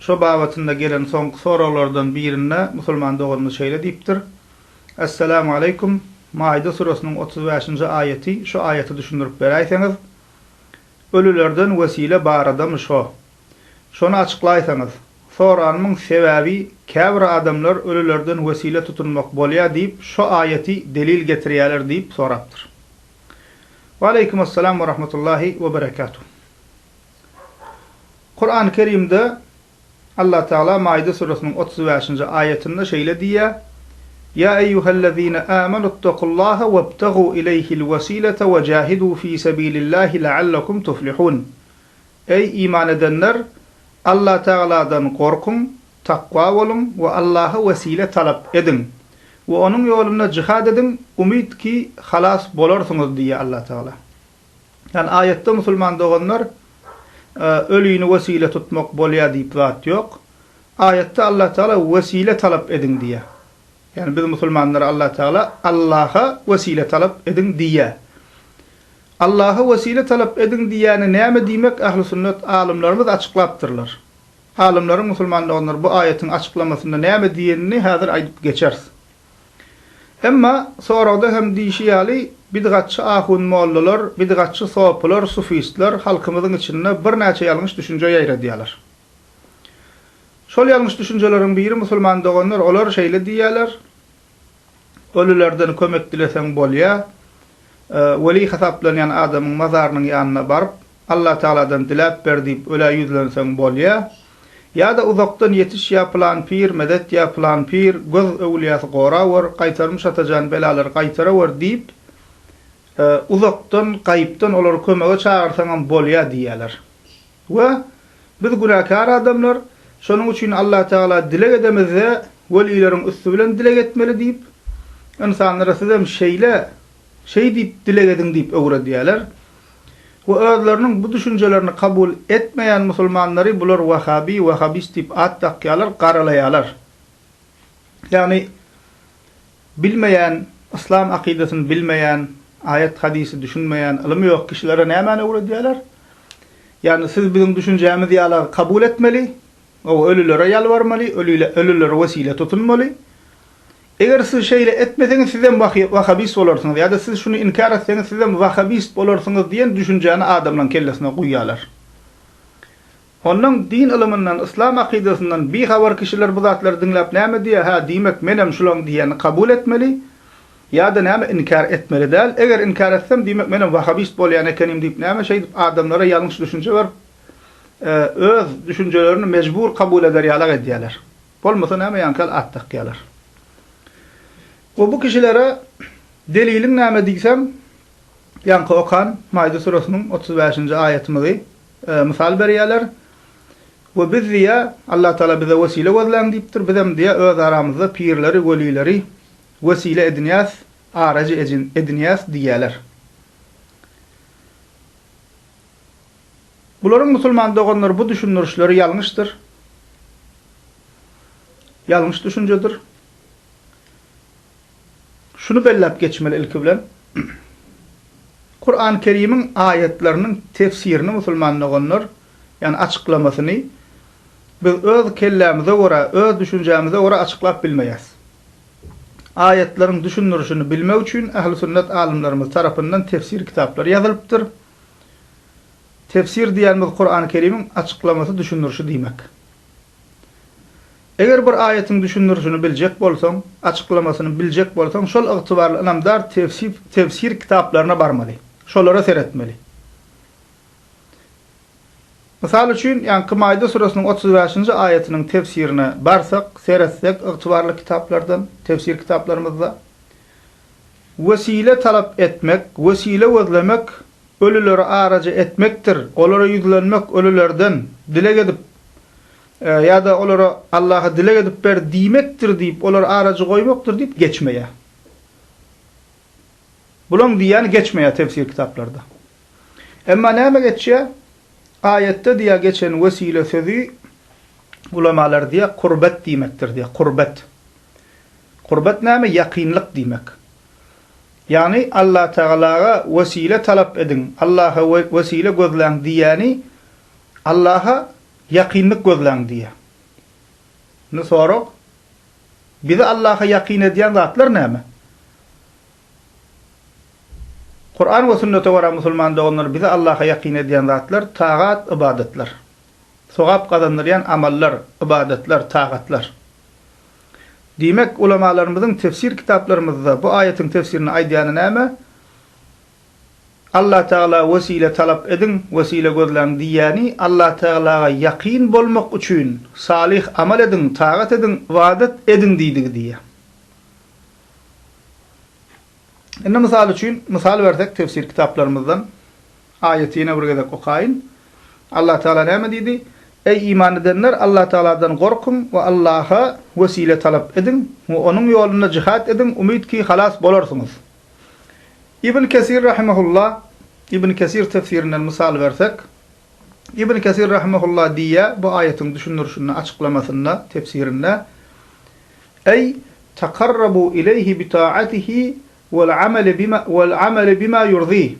Şo babatynda gelen soňky soraglardan birinde musulman doganymyz şeýle diýipdir, Esselamu aleýkum, Maide süresiniň otuz bäşinji aýaty, şu aýaty düşündirip beräýseňiz, ölülerden wesile baradamy şo? Şony açyklaýsaňyz. Soranymyň sebäbi käbir adamlar ölülerden wesile tutunmak bolýa diýip şo aýaty delil getirýäler diýip sorapdyr. Waleýkumessalam werahmetullahi weberekatuh. Kurany Kerimde Allah Tagala Maide suresiniň otuz bäşinji aýatynda şeýle diýýär, Ýa eýýuhellezine âmenuttakullaha webtagû ileýhil wesilete we jahidû fî sebilillahi leallekum tuflihûn. Eý iman edenler, Allah Tagaladan gorkuň, takwa boluň we Allaha wesile talap ediň we onuň ýolunda jihad ediň, umyt ki halas bolarsyňyz diýýär Allah Tagala. Ýani aýatda musulman doganlar ölini wesile tutmak bolýa diýip zat ýok. Aýatda Allah Teala wesile talap ediň diýýä. Ýani biz musulmanlara Allah Teala Allaha wesile talap ediň diýýä. Allaha wesile talap ediň diýýäni näme diýmek ähli sünnet alymlarymyz açyklapdyrlar. Alymlaryň musulman doganlar bu aýatyň açyklamasynda näme diýenini häzir aýdyp geçeris. Emma soragda hem diýşi ýaly, bidgatçy ahun-mollalar, bidgatçy sopylar, sufistler halkymyzyň içinde birnäçe ýalňyş düşünje ýaýradýarlar. Şol ýalňyş düşünjeleriň biri musulman doganlar olar şeýle diýýärler, Ölülerden kömek dileseň bolýar, weli hasaplanýan adamyň mazarynyň ýanyna baryp, Allatagaladan diläp ber diýip ölä ýüzlenseň bolýa, ýa-da uzakdan ýetiş ýa pylan pir medet ýa pylan pir göz öwülýäsi gorawer, gaýtarmyş atajan belalary gaýtarawer diýip uzakdan, gaýypdan olary kömege çagyrsaňam bolýa diýýäler. We biz günäkär adamlar, şonuň üçin Allatagala dileg edemizde welileriň üsti bilen dileg etmeli diýip, ynsanlara sizem şeýle, şeý diýip dileg ediň diýip öwredýäler. we özleriniň bu düşünjelerini kabul etmeýän musulmanlary bular wahabi, wahabist diýip at dakýarlar, garalaýarlar. Ýagny bilmeýän, yslam akydasyny bilmeýän, aýat-hadysy düşünmeýän, ylymy ýok kişilere nämäni öwredýärler? Ýagny siz biziň düşünjämiz ýala kabul etmeli, o ölülere ýalbarmaly, ölülere wesile tutunmaly, Eger siz şeýle etmeseňiz sizem wahy wahabist bolarsyňyz ýa-da siz şuny inkär etseňiz sizem wahabist bolarsyňyz diýen düşünjäni adamlaň kellesine guýýalar. Onnoň din ylymyndan, yslam akydasyndan bi habar kişiler bu zatlary diňläp näme diýýär, hä diýmek menem şulaň diýýänini kabul etmeli ýa-da näme inkär etmeli däl, eger inkär etsem diýmek menem wahabist bolýan ekenim diýip näme şeýdip adamlara ýalňyş düşünje berip öz düşünjelerini mejbur kabul eder ýalak edýäler. Bolmasa näme ýaňkyl at dakýalar. We bu kişilere deliliň näme diýseň ýaňky okan Maide süresiniň otuz bäşinji aýatymyzy mysal berýäler. We biz diýýä Allah Taala bize wesile gözläň diýipdir, bizem diýýä öz aramyzda pirleri, welileri wesile edinýäs, arajy edinýäs diýýäler. Bularyň musulman doganlar bu düşündirişleri ýalňyşdyr. Ýalňyş düşünjedir. Şuny belläp geçmeli ilki bilen, Kurany Kerimiň aýatlarynyň tefsirini musulman doganlar, ýani açyklamasyny biz öz kellämize görä, öz düşünjämize görä açyklap bilmeýäs. Aýatlaryň düşündirişini bilmek üçin ähli sünnet alymlarymyz tarapyndan tefsir kitaplary ýazylypdyr. Tefsir diýýänimiz Kurany Kerimiň açyklamasy, düşündirişi diýmek. Eger bir aýatyň düşündirişini biljek bolsaň, açyklamasyny biljek bolsaň şol ygtybarly ynamdar tefsir kitaplaryna barmaly, şolara seretmeli. Mysal üçin, ýaňky Maýda suresiniň otuz bäşinji aýatynyň tefsirine barsak, seretsek ygtybarly kitaplardan, tefsir kitaplarymyzda, Wesile talap etmek, wesile gözlemek, ölüleri araja etmekdir, olara ýüzlenmek, ölülerden, dileg edip, ýa-da olara, Allaha dileg edip ber diýmekdir diýip, olary arajy goýmakdyr diýip geçmeýär. Bulaň diýýäni geçmeýär tefsir kitaplarda. Emma näme geçýär? Aýatda diýýär geçen wesile sözi ulamalar diýýär, kurbet diýmekdir diýýär, kurbet. Gurbat näme? Ýakynlyk diýmek. Ýagny Allatagalaga wesile talap ediň, Allaha wesile gözläň diýýäni Allaha ýakynlyk gözläň diýýär. Indi sorag, bizi Allaha ýakyn edýän zatlar näme? Kuran we sünnete görä musulman doganlar bizi Allaha ýakyn edýän zatlar tagat, ybadatlar. Sogap gazandyrýan amallar, ybadatlar, tagatlar. Diýmek, ulamalarymyzyň tefsir kitaplarymyzda bu aýatyň tefsirini aýdýany näme? Allatagala wesile talap ediň, wesile gözläň diýýäni Allatagalaga ýakyn bolmak üçin salyh amal ediň, tagat ediň, ybadat ediň diýdigi diýýär. Indi mysal üçin, mysal bersek tefsir kitaplarymyzdan Aýaty ýene bir gezek okaýyn. Allah Tagala näme diýdi? Eý, iman edenler, Allah Tagaladan gorkuň we Allaha wesile talap ediň we Onuň ýolunda jihad ediň, umyt ki, halas bolarsyňyz. Ibn Kesir rahimehullah, Ibn Kesir tefsirinden mysal bersek, Ibn Kesir rahimehullah diýýär bu aýatyň düşündirişinde, açyklamasynda, tefsirinde, Eý, takarrabu ileýhi bi taatihi wal amali bima wal amali bima ýurdihi,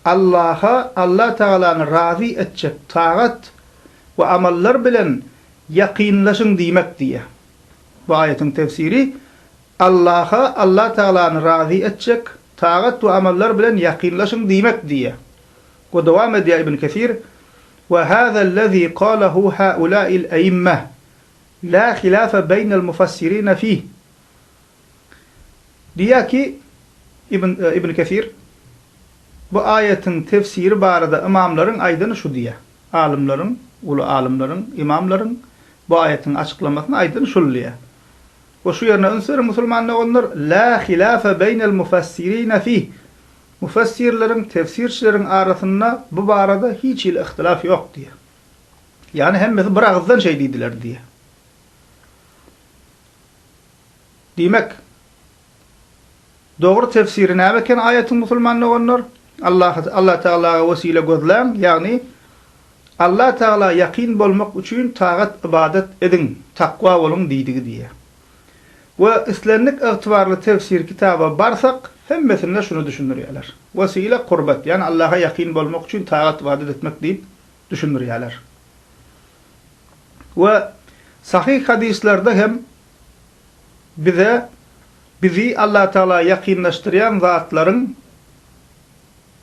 Allaha, Alla Tagalany razy etjek tagat we amallar bilen ýakynlaşyň diýmek diýýär. Bu aýatyň tefsiri, Allaha, Alla Tagalany razy etjek tagat we amallar bilen ýakynlaşyň diýmek diýýär. We dowam edýär Ibn Kesir, Wa hazallezi galahu haula'il a'immah, la hilafa beýnel mufassirina fih. Diýýär ki, Ibn Kesir, Bu aýatyň tefsiri barada ymamlaryň aýdany şu diýýär, alymlaryň, uly alymlaryň, ymamlaryň bu aýatyň açyklamasyny aýdany şul diýýär. We şu ýerine üns beriň, musulman doganlar, Lâ hilâfe beýnel mufessirîne fîh, Mufessirleriň, tefsirçileriň arasynda bu barada hiç hili yhtilaf ýok diýýär. Ýagny hemmesi bir agyzdan şeý diýdiler diýýär. Diýmek, dogry tefsiri näme eken aýatyň musulman doganlar? Allah Allah tagalaga wesile gözläň, ýagny Allah tagala ýakyn bolmak üçin tagat ybadat ediň, takwa boluň diýdigi diýýär. We islendik ygtybarly tefsir kitaba barsak, hemmesinde şuny düşündirýärler. Wesile kurbat, ýagny Allaha ýakyn bolmak üçin tagat ybadat etmek diýip düşündirýärler. We sahyh hadyslarda hem bize bizi Allatagala ýakynlaşdyrýan zatlaryň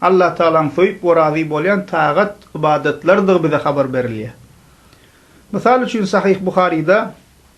Allatagalaň söýüp we razy bolýan tagat, ybadatlarydygy bize habar berilýär. Mysal üçin Sahyh Buharyda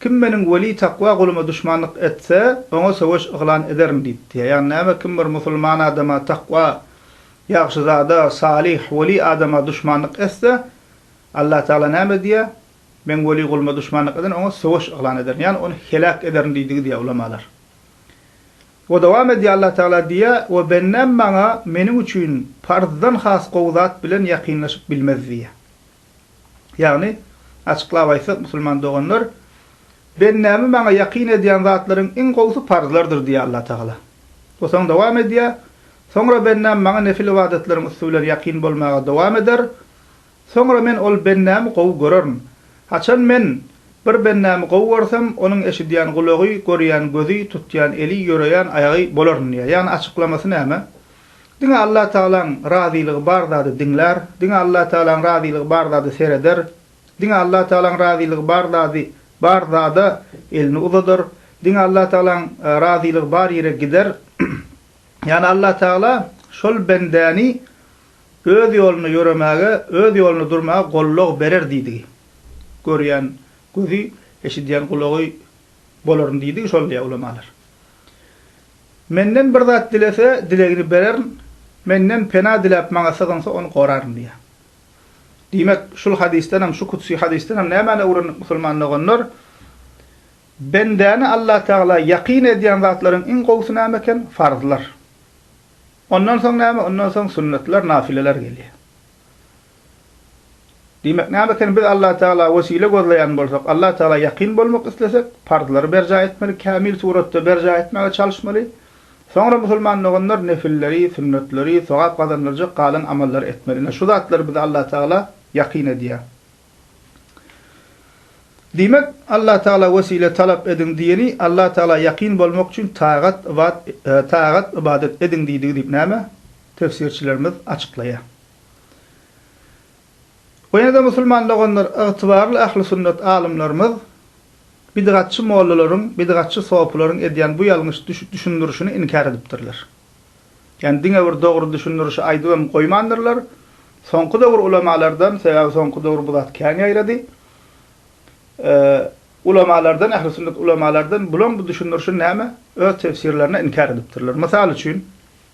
Kim Meniň weli takwa guluma duşmanlyk etse, oňa söweş yglan ederin diýipdi. Ýagny näme? Kim bir musulman adama, takwa, ýagşy zada, salyh, weli adama duşmanlyk etse, Allatagala näme diýýär? Meň weli guluma duşmanlyk eden, oňa söweş yglan ederin, ýagny ony heläk ederin diýdi gidýär ulamalar. We dowam edýär Allatagala diýýär, We bendäm Maňa, meniň üçin, parzdan has gowy zat bilen ýakynlaşyp bilmez diýýär. Ýagny, açyklap aýtsak, musulman doganlar, Bendämi maňa ýakyn edýän zatlaryň iň gowusy parzlardyr diýýär Allatagala. Bu soň dowam edýär, Soňra bendäm maňa nefil ybadatlaryň üsti bilen ýakyn bolmaga dowam eder. Soňra men ol bendämi gowy görerin. Haçan men bir bendämi gowy görsem, onuň eşidýän gulagy, görýän gözi, tutýan eli, ýöreýän aýagy bolaryn diýýär. Ýagny açyklamasy näme? Diňe Allatagalaň razylygy bar zady diňlär, diňe Allatagalaň razylygy bar zady sereder, diňe Allatagalaň razylygy bar zady bar zada elini uzadar, diňe Allatagalaň razylygy bar ýere gider. Ýagny Allatagala şol bendäni Öz ýolunda ýöremäge, Öz ýolunda durmaga gollag berer diýdigi. Görýän gözi, eşidýän gulagy Bolaryň diýdigi şol diýýär ulamalar. Menden bir zat dilese, dilegini bererin, Menden pena diläp Maňa sygynsa, ony goraryn diýýär. Diýmek, şul hadysdan hem, şu kudsy hadysdan hem nämäni öwrendik musulman doganlar? Bendäni Allatagala ýakyn edýän zatlaryň iň gowusy näme eken? Farzlar. Ondan soň näme? Ondan soň sünnetler, nafileler gelýär. Diýmek näme eken biz Allah Tagala wesile gözleýän bolsak Allah Tagala ýakyn bolmak islesek parzlary berjaý etmeli kämil suratda berjaý etmäge çalyşmaly soňra musulman doganlar nefilleri sünnetleri sogap gazandyrjak galan amallary etmeli ine şu zatlar bizi Allah Tagala ýakyn edýär. Diýmek Allah Tagala wesile talap ediň diýeni Allah Tagala ýakyn bolmak üçin tagat ybat tagat ybadat ediň diýdigi diýip näme tefsirçilerimiz açyklaýar. We ýene-de musulman doganlar, ygtybarly ähli sünnet alymlarymyz bidgatçy mollalaryň, bidgatçy sopylaryň edýän bu ýalňyş düşündirişini inkär edipdirler. Ýagny diňe bir dogry düşündirişi aýdybam goýmandyrlar. Soňky döwür ulamalardan, sebäbi soňky döwür bu zat kän ýaýrady, ulamalardan, ähli sünnet ulamalardan bulaň bu düşündirişini näme, öz tefsirlerine inkär edipdirler. Mysal üçin.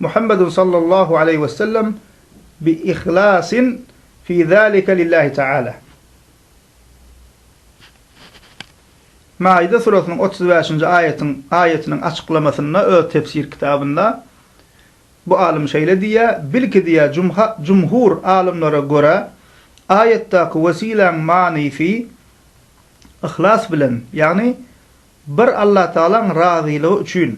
Muhammedun sallallahu aleýhi we sellem bi ihlasin fi zalika lillahi taala. Maide surasynyň otuz bäşinji aýatyň aýatynyň açyklamasynda öz tefsir kitabynda bu alym şeýle diýýär, Bilki diýýär jumha jumhur alymlara görä aýatdaky wesiläň manysy yhlas bilen, ýagny Bir Allatagalaň razylygy üçin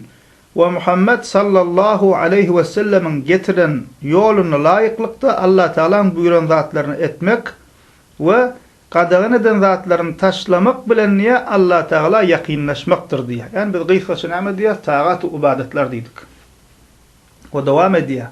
we Muhammet sallallahu aleýhi wesellemiň getiren ýoluna laýyklykda Allatagalaň buýran zatlaryny etmek we gadagan eden zatlaryny taşlamak bilen diýýär, Allatagala ýakynlaşmakdyr diýýär. Ýagny biz gysgaça näme diýýäris? Tagaty ybadatlar diýdik. We dowam edýär.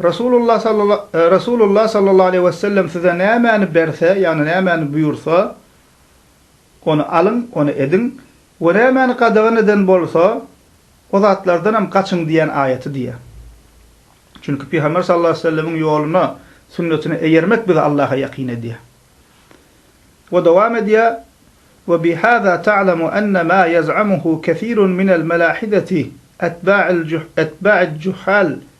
Resulullah sallala, Resulullah sallallahu aleýhi wesellem size nämäni berse, ýagny nämäni buýursa, ony alyň, ony ediň we nämäni gadagan eden bolsa, o zatlardanam gaçyň diýen aýaty diýýär. Çünki Pygamber sallallahu aleýhi wesellemiň ýoluna, sünnetine eýermek bizi Allaha ýakyn edýär. We dowam edýär, Ve bi hâzâ ta'lemu enne mâ yez'amuhu kesîrun minel melâhideti etbâ'il, etbâ'id cuhhâl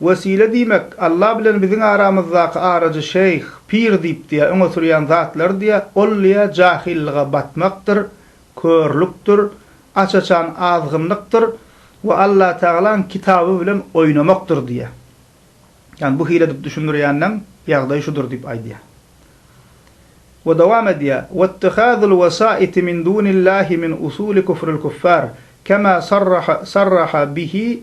Wesile diýmek, Alla bilen biziň aramyzdaky arajy şeýh, pir diýipdiýýär, öňe sürýän zatlary diýýär, ol diýýär jahyllyga batmakdyr, körlükdir, aç-açan azgynlykdyr we Allatagalaň kitaby bilen oýnamakdyr diýýär. Ýagny bu hile edip düşündirýänleň ýagdaýy şudur diýip aýdýar. We dowam edýär, Wettihazul wesaiti min dunillahi min usuli kufril kuffar, kema sarraha sarraha bihi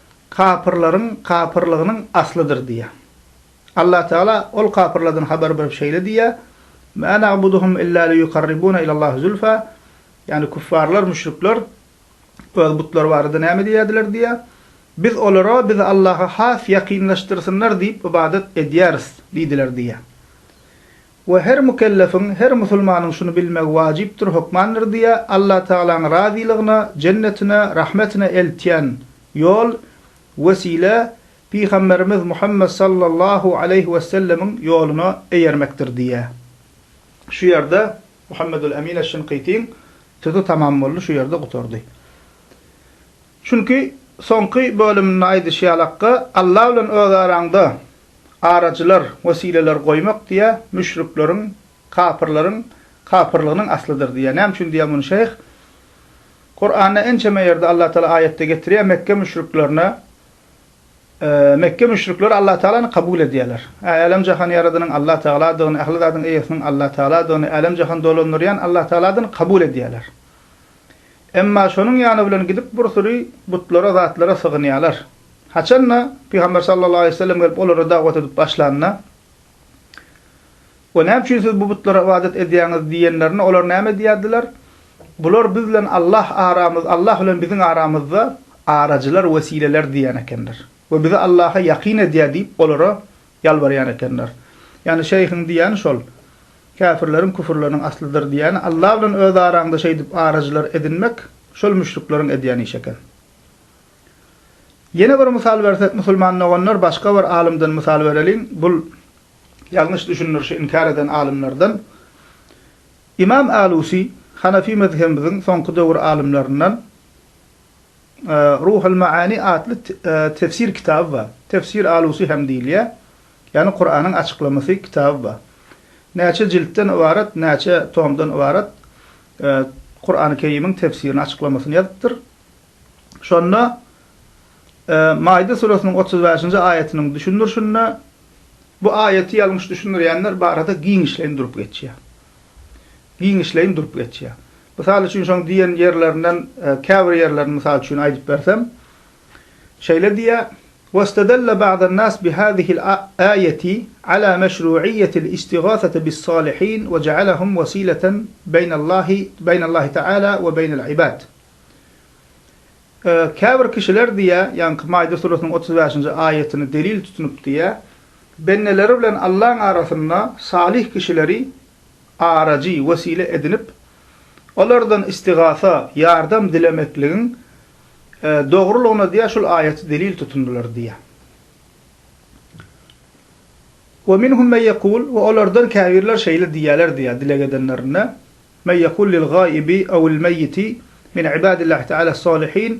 kapyrlaryň kapyrlygynyň aslydyr diýýär. Allatagala ol kapyrlardan habar berip şeýle diýýär, Mä na'buduhum illa liýukarribuna ilallahi zulfa, ýagny küffarlar, müşrikler öz butlary barada näme diýýärdiler diýýär, Biz olara bizi Allaha has ýakynlaşdyrsynlar diýip ybadat edýäris diýdiler diýýär. We her mükellefiň, her musulmanyň şuny bilmegi wajypdyr, hökmandyr diýýär, Allatagalaň razylygyna, jennetine, rahmetine eltýän ýol, wesile, Pygamberimiz Muhammet sallallahu aleýhi wessellemiň ýoluna eýermekdir diýýär. Şu ýerde Muhammedül Emin eş-Şinkytyň sözi tamam boldy, şu ýerde gutardy. Çünki, soňky bölüminde aýdyşy ýalakka, Alla bilen öz araňda araçylar, wesileler goýmak diýýär, müşrikleriň, kapyrlaryň kapyrlygynyň aslydyr diýýär. Näme üçin diýýär muny şeýh? Kuranda ençeme ýerde Allatagala aýatda getirýär, Mekge müşriklerine, Mekge müşrikleri Allatagalany kabul edýärler. Ä, älem-jahany ýaradanyň Allatagaladygyny, ähli zadyň eýesiniň Allatagaladygyny, älem-jahany dolandyrýan Allatagaladygyny kabul edýärler. Emma şonuň ýany bilen gidip bir süri butlara, zatlara sygynýarlar. Haçan-da, Pygamber sallallahu aleýhi we sellem gelip olara dawat edip başlanda, We näme üçin siz bu butlara ybadat edýäňiz? diýenlerinde, olar näme diýerdiler? Bular biz bilen Allah aramyz, Allah bilen biziň aramyzda arajylar, wesileler diýen ekenler. We bizi Allaha ýakyn edýär diýip, olara Ýalbarýan ekenler. Ýagny şeýhiň diýýäni şol. Käfirleriň küfürleriniň aslydyr diýýäni Alla bilen öz araňda şeýdip arajylar edinmek şol müşrikleriň edýän işi eken. Ýene bir mysal bersek musulman doganlar başga bir alymdan mysal bereliň bul ýalňyş düşündirişi inkär eden alymlardan. Ymam Alusi Hanafi mezhebimiziň soňky döwür alymlaryndan. Ruhul Maani atly tefsir kitaby bar. Tefsir Alusy hem diýilýär. Ýagny Kuranyň açyklamasy kitaby bar. Näçe jiltden ybarat, näçe tomdan ybarat Kurany Kerimiň tefsirini açyklamasyny ýazypdyr. Şonda Maide suresynyň otuz bäşinji aýatynyň düşündirişinde bu aýaty ýalňyş düşündirýänler barada giňişleýin durup geçýär. Giňişleýin durup geçýär. Mysal üçin şoň diýen ýerlerinden käbir ýerlerini mysal üçin aýdyp bersem, şeýle diýýär, Westedelle ba'dan nas bi hazihil aýeti ala meşru'iyyetil istigâsete bis salihin we ja'alahum wesileten beýnallahi beýnallahi ta'ala we beýnel ibad. Käbir kişiler diýýär, ýaňky Maide surasynyň otuz bäşinji aýatyny delil tutunyp diýýär, bendeleri bilen Allaň arasynda salyh kişileri arajy, wesile edinip, olardan istigasa, ýardam dilemekligiň dogrulygyna diýýär, şol aýaty delil tutundylar diýýär. Ve minhum men yekul ve olardan käbirler şeýle diýýärler diýýär dileg edenlerinde, men yekul lil-gaibi evil-meýiti min ibadillahi teala-s-salihin,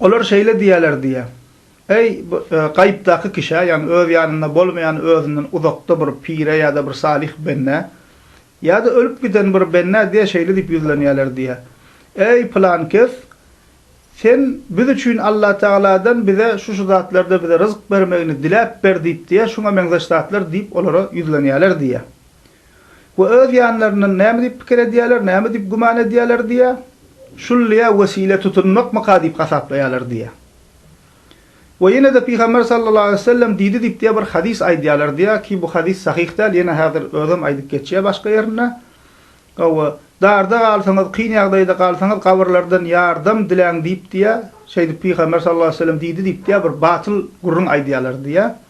Olar şeýle diýerler diýýä, Eý, bu gaýypdaky kişä, ýagny öz ýanynda bolmaýan özünden uzakda bir pire ýa-da bir salyh bendä, ýa-da ölüp giden bir bendä diýýä şeýle diýip ýüzlenýärler diýýä, Eý, pylan kes, sen biz üçin Allatagaladan bize şu-şu zatlarda bize ryzyk bermegini diläp ber diýip diýýä, şuňa meňzeş zatlar diýip olara ýüzlenýärler diýýä. we öz ýanlaryndan näme diýip pikir edýärler, näme diýip güman edýärler diýýä, şullyýa wesile tutunmakmyka diýip hasaplaýarlar diýýä. We ýene-de Pygamber sallallahu aleýhi wesellem diýdi diýip diýýä bir hadys aýdýarlar diýýä ki bu hadys sahyh däl ýene häzir özem aýdyp geçýä başga ýerinde, we darda galsaňyz, kyn ýagdaýda galsaňyz gabyrlardan ýardam diläň diýip diýýä, şeýdip Pygamber sallallahu aleýhi wesellem diýdi diýip diýýä bir batyl gürrüň aýdýarlar diýýä.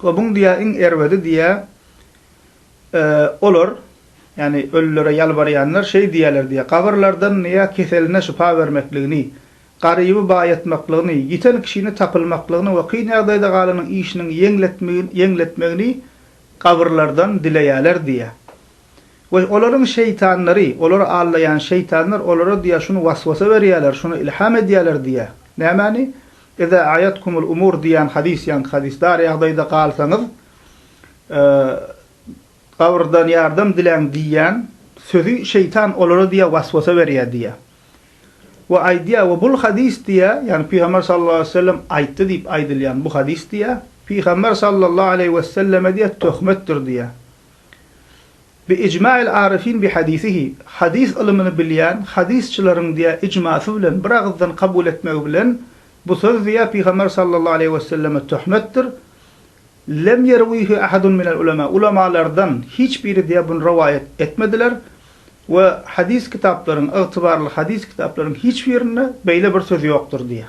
Gobuň diýýär, iň erbedi diýýär, Olar, ýagny ölülere ýalbarýanlar şeý diýýärler diýýär, Gabyrlardan ýa keseline şypa bermekligini, garyby baýatmaklygyny, ýiten kişini tapylmaklygyny we kyn ýagdaýda galanyň işiniň ýeňletmegini gabyrlardan dileýärler diýýär. We olaryň şeýtanlary, olary aldaýan şeýtanlar olara diýýär, şuny waswasa berýärler, şuny ilham edýärler diýýär. Nämäni? Iza a'yatkumul umur diýýän hadys, ýaňky hadys, dar ýagdaýda galsaňyz, gabrdan ýardam diläň diýýän sözi şeýtan olara diýýär, waswasa berýär diýýär. We aýdýar, we bul hadys diýýär, ýagny Pygamber sallallahu aleýhi wesellem aýtdy diýip aýdylýan bu hadys diýýär, Pygamber sallallahu aleýhi weselleme diýýär, töhmetdir diýýär. Bi ijma'il arifin bi hadisihi, hadys ylymyny bilýän hadysçylaryň diýä ijmasy bilen bir agyzdan kabul etmegi bilen, bu söz diýä Pygamber sallallahu aleýhi we selleme töhmetdir, Lem ýerwihi ahadun minel ulema, ulamalardan hiç biri diýä buny rowaýat etmediler we hadys kitaplaryň, ygtybarly hadys kitaplaryň hiç birinde beýle bir söz ýokdur diýä.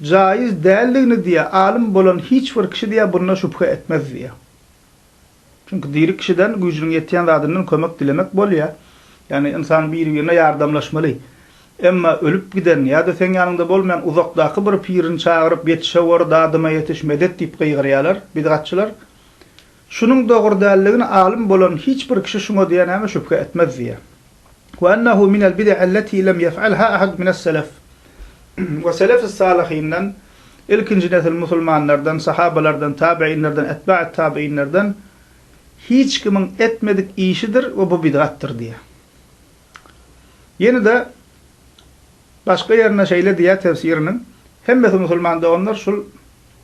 Jaiz däldigini diýýä alym bolan hiç bir kişi diýýä bunda şübhe etmez diýýä. Çünki diri kişiden güýjüniň ýetýän zadyndan kömek dilemek bolýa. Ýagny ynsan biri birine ýardamlaşmaly. Emma ölüp giden ýada seň ýanyňda bolmaýan uzakdaky bir pirini çagyryp ýetişewor dadyma ýetiş medet diýip gygyrýalar bidgatçylar. Şunuň dogry däldigini alym bolan hiç bir kişi şuňa diýenäme şübhe etmez diýýär. Ve ennehu minel bid'i elleti lem yef'alha ahad mines selef ve selefis salihinden, ilkinji nesil musulmanlardan, sahabalardan, tabiinlerden, etba'it tabiinlerden hiç kimiň etmedik işidir ve bu bid'atdyr diýýär. Ýene-de başga ýerinde şeýle diýýär tefsiriniň, Hemmesi musulman doganlar şul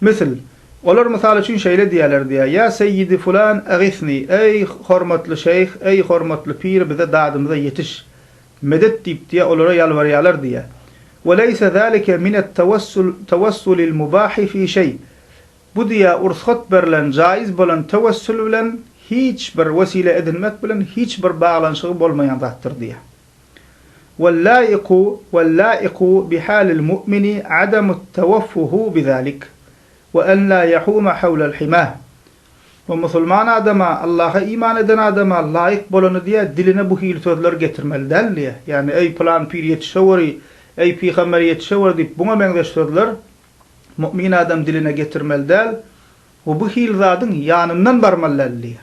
Müsl, Olar mysal üçin şeýle diýerler diýýär, Ýa seýýidi fulan, egisni, Eý, hormatly şeýh, eý, hormatly pir, bize dadymyza ýetiş! Medet diýip diýýär, olara ýalbarýarlar diýýär. Ve leýse zalike minettewesul tewessulil mubahi fi şeý, Bu diýýär, ursgat berlen, jaýyz bolan tewessül bilen hiç bir, wesile edinmek bilen hiç bir baglanyşygy bolmaýan zatdyr diýýär. Wallaiku wallaiku bi halil mu'mini adamut tawaffuhu bi zalik, we en la yahuma hawlal hima. We musulman adama, Allaha iman eden adama laýyk bolany diýä, diline bu hili sözler getirmeli däl diýä. Ýagny, eý pylan pir ýetişeweri, eý pygamber ýetişeweri diýip buňa meňzeş sözler mu'min adam diline getirmeli däl we bu hili zadyň ýanyndan barmaly däl diýä.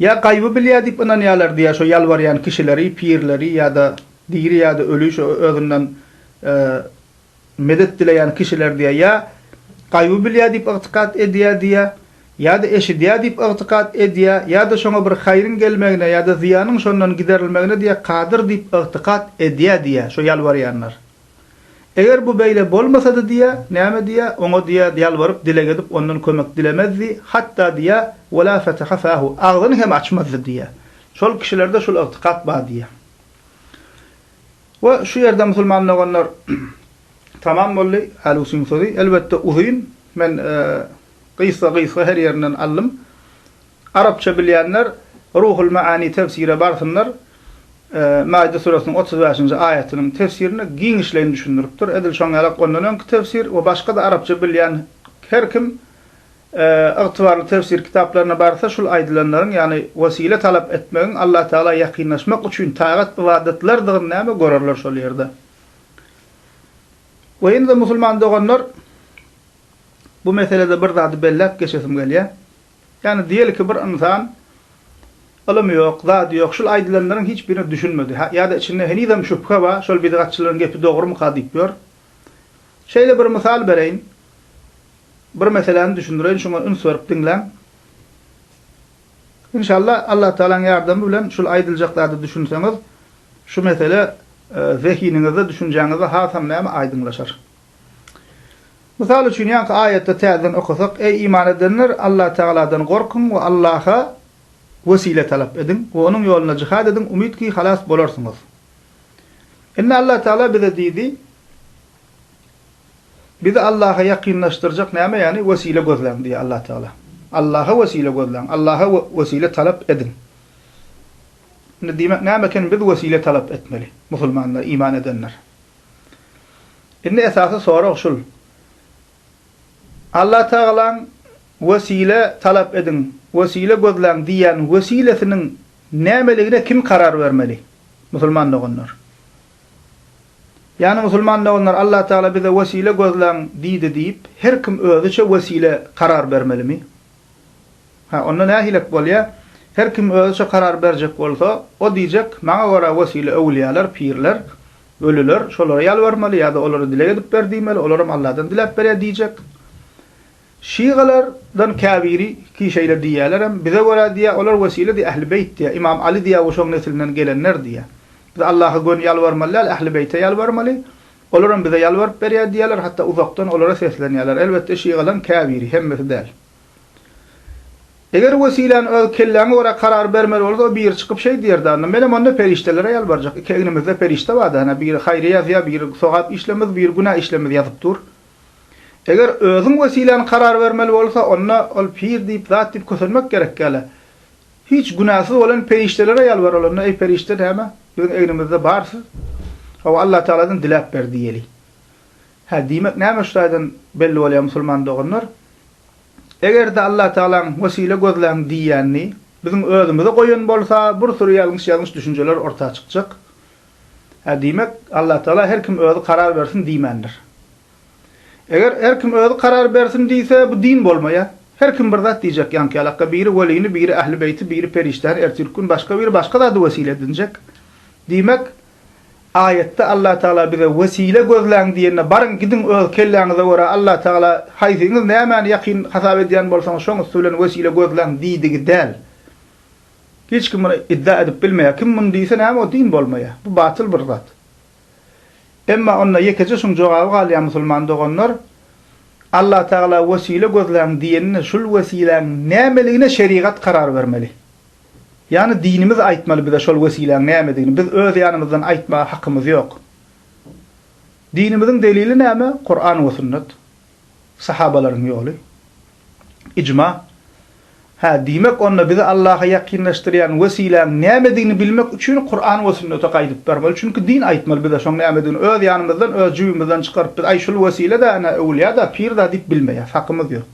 Ýa gaýby bilýär diýip ynanýarlardy ýa şo ýalbarýan kişileri, pirleri ýa-da diri ýa-da öli şo özünden medet dileýän kişilerdi ýa gaýby bilýär diýip ygtykat edýärdi ýa ýa-da eşidýär diýip ygtykat edýär ýa-da şoňa bir haýryň gelmegine ýa-da zyýanyň şondan giderilmegine diýä kadyr diýip ygtykat edýärdi ýa şo ýalbarýanlar. Eger bu beýle bolmasady diýýä, näme diýýä, oňa diýýä ýalbaryp dileg edip ondan kömek dilemezdi, hatda diýýä, Wela feteha fahu, agzyny hem açmazdy diýýä. Şol kişilerde şul ygtykat bar diýýä. We şu ýerde musulman doganlar tamam boldy, Alusyň sözi elbetde uzyn, men gysga-gysga her ýerinden aldym. Arapça bilýänler Ruhul Maani tefsire barsynlar. Maide suresiniň otuz bäşinji aýatynyň tefsirini giňişleýin düşündiripdir. Edil şoň ýalak ondan öňki tefsir we başga-da arapça bilýän her kim ygtybarly tefsir kitaplaryna barsa şul aýdylanlaryň, ýagny wesile talap etmegiň Allah Tagala ýakynlaşmak üçin tagat ybadatlardygyny näme görerler şol ýerde. We ýene-de musulman doganlar bu meselede bir zady belläp geçesim gelýär. Ýagny diýelki bir ynsan Ylym ýok, zat ýok, şul aýdylanlaryň hiç birine düşünmedi, ýa-da içinde henizem şübhe bar, şol bidgatçylaryň gepi dogrumyka diýip ýör. Şeýle bir mysal bereýin. Bir meseläni düşündireýin, şuňa üns berip diňläň. Inşalla Allatagalaň ýardamy bilen şul aýdyljak zada düşünseňiz, şu mesele zehiniňizde, düşünjäňizde hasam näme aýdyňlaşar. Mysal üçin, ýaňky aýatda täzeden okasak, Eý, iman edenler, Allatagaladan gorkuň we Allaha wesile talap ediň we Onuň ýolunda jihad ediň, umyt ki, halas bolarsyňyz. Indi Allatagala bize diýdi, Bizi Allaha ýakynlaşdyrjak näme, ýagny wesile gözläň diýýär Allatagala. Allaha wesile gözläň, Allaha wesile talap ediň. Indi diýmek näme eken, biz wesile talap etmeli, musulmanlar, iman edenler? Indi esasy sorag şul. Allatagalaň wesile talap ediň, wesile gözläň diýýän wesilesiniň nämeligine kim karar bermeli? Musulman doganlar. Ýagny musulman doganlar Allatagala bize wesile gözläň diýdi diýip, her kim özüçe wesile karar bermelimi? Hä, onda nähilek bolýa? Her kim özüçe karar berjek bolsa, o diýjek, Maňa görä wesile öwülýäler, pirler, ölüler, şolara ýalbarmaly ýa-da olara dileg edip ber diýmeli, olaram Alladan diläp berýär diýjek. Şygalardan käbiri ki şeýle diýýälerem, bize görä diýýä, olar wesile-de Ähli Beýt diýýä, Ymam Aly diýýä we şoň neslinden gelenler diýýä. Biz Allaha göni ýalbarmaly däl, Ähli Beýte ýalbarmaly, olaram bize ýalbaryp berýär diýýäler, hatda uzakdan olara seslenýäler. Elbetde şygalaryň käbiri, hemmesi däl. Eger wesiläni öz kelläňe görä karar bermeli bolsa o biri çykyp şeý diýerdi anda menem onda perişdelere ýalbarjak iki egnimizde perişde barda hana biri haýry ýazýa biri sogap işlemiz biri günä işlemiz ýazyp dur eger özüň wesiläni karar bermeli bolsa onda ol pir diýip zat diýip kösenmek gerek ýaly hiç günäsiz bolan perişdelere ýalbaryl onda eý perişde näme biziň egnimizde bar siz hawa Allatagaladan diläp ber diýeli Hä, diýmek, näme şu taýdan belli bolýar, musulman doganlar? Eger-de Allatagalaň wesile gözläň diýýänini biziň özümize goýan bolsa, bir süri ýalňyş-ýalňyş düşünjeler orta çykjak. Hä, diýmek, Allatagala her kim özi karar bersin diýmändir. Eger her kim özi karar bersin diýse, bu din bolmaýar. Her kim bir zat diýjek, ýaňky-ýalakka biri welini, biri ähli beýti, biri perişdäni, ertirki gün başga biri başga zady wesile edinjek. Diýmek, Aýatda Allatagala bize wesile gözläň diýende baryň gidiň öz kelläňize görä Allatagala haýsyňyz nämäni ýakyn hasap edýän bolsaňyz şoň üsti bilen wesile gözläň diýdigi däl. Hiç kim muny iddia edip bilmeýär. Kim muny diýse näme o din bolmaýar. Bu batyl bir zat. Emma onda ýekeje şuň jogaby galýar musulman doganlar, Allatagala wesile gözläň diýende şul wesiläň nämeligine şerigat karar bermeli. Ýagny dinimiz aýtmaly bize şol wesiläň nämedigini, biz öz ýanymyzdan aýtmaga hakymyz ýok. Dinimiziň delili näme? Kuran we sünnet. Sahabalaryň ýoly. Ijma. Hä, diýmek onda bizi Allaha ýakynlaşdyrýan wesiläň nämedigini bilmek üçin Kuran we sünnete gaýdyp barmaly, çünki din aýtmaly bize şoň nämedigini, öz ýanymyzdan, öz jübimizden çykaryp biz aý şul wesile-de, ene öwülýa-da, pir-da diýip bilmeýäs, hakymyz ýok.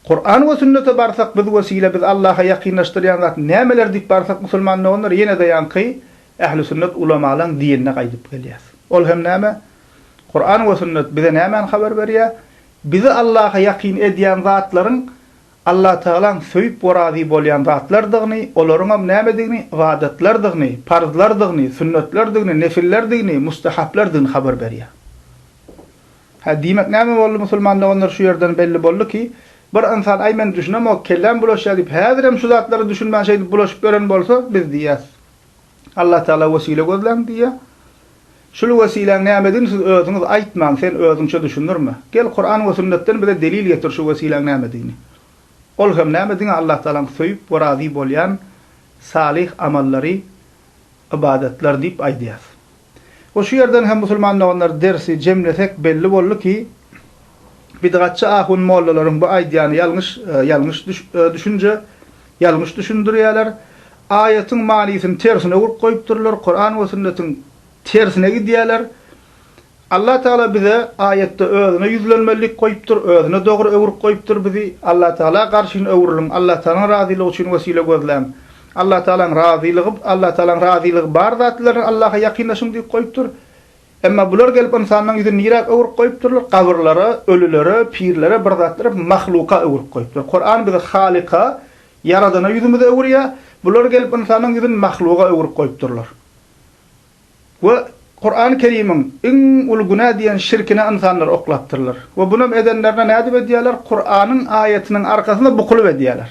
Kuran we sünnete barsak biz wesile biz Allaha ýakynlaşdyrýan zat nämeler diýip barsak musulman doganlar ýenede ýaňky ähli sünnet ulamalaň dinine gaýdyp gelýäs. Ol hem näme? Kuran we sünnet bize nämäni habar berýä? Bizi Allaha ýakyn edýän zatlaryň Allah Tagalaň söýüp we razy bolýan zatlardygyny, olaryňam nämedigini, ybadatlardygyny, parzlardygyny, sünnetlerdigini, nefillerdigini, mustahaplardygyny habar berýä. Hä, diýmek näme boldy, musulman doganlar şu ýerden belli boldy ki, bir ynsan aý men düşünemok, kelläm bulaşýar diýip häzirem şu zatlara düşünmän şeýdip bulaşyp ýören bolsa biz diýýäs, Allah Taala wesile gözläň diýýär. Şul wesiläň nämedigini siz özüňiz aýtmaň, sen özüňçe düşündirme. Gel Kuran we sünnetden bize delil getir şu wesiläň nämedigini. Ol hem näme diňe Allah Taalaň söýüp we razy bolýan salyh amallary, ybadatlar diýip aýdýas. We şu ýerden hem musulman doganlar dersi jemlesek belli boldy ki bidgatçy ahun mollalaryň bu aýdýany ýalňyş ýalňyş düşünje ýalňyş düşündirýäler aýatyň manysyny tersine urip goýupdyrlar kuran we sünnetiň tersine gidýäler Allah Taala bize aýatda özüne ýüzlenmelilik goýupdyr özüne dogry öwürip goýupdyr bizi Allah Taala garşyny öwrüliň Allah Taalan razylygy üçin wesile gözläň Allatagalaň razylygy, Allatagalaň razylygy bar zatlar Allaha ýakynlaşyň diýip goýupdyr. Emma bular gelip ynsanyň ýüzüni niräk öwrüp goýupdyrlar? Gabyrlara, ölülere, pirlere, bir zatlara, mahluka öwrüp goýupdyr. Kuran bizi Halyka, Ýaradana ýüzümizi öwürýär. Bular gelip ynsanyň ýüzüni mahluga öwrüp goýupdyrlar. We Kurany Kerimiň iň uly günä diýen şirkine ynsanlar oklapdyrlar. We bunam edenlerine nädip edýärler? Kuranyň aýatynyň arkasyna bukulyp edýärler.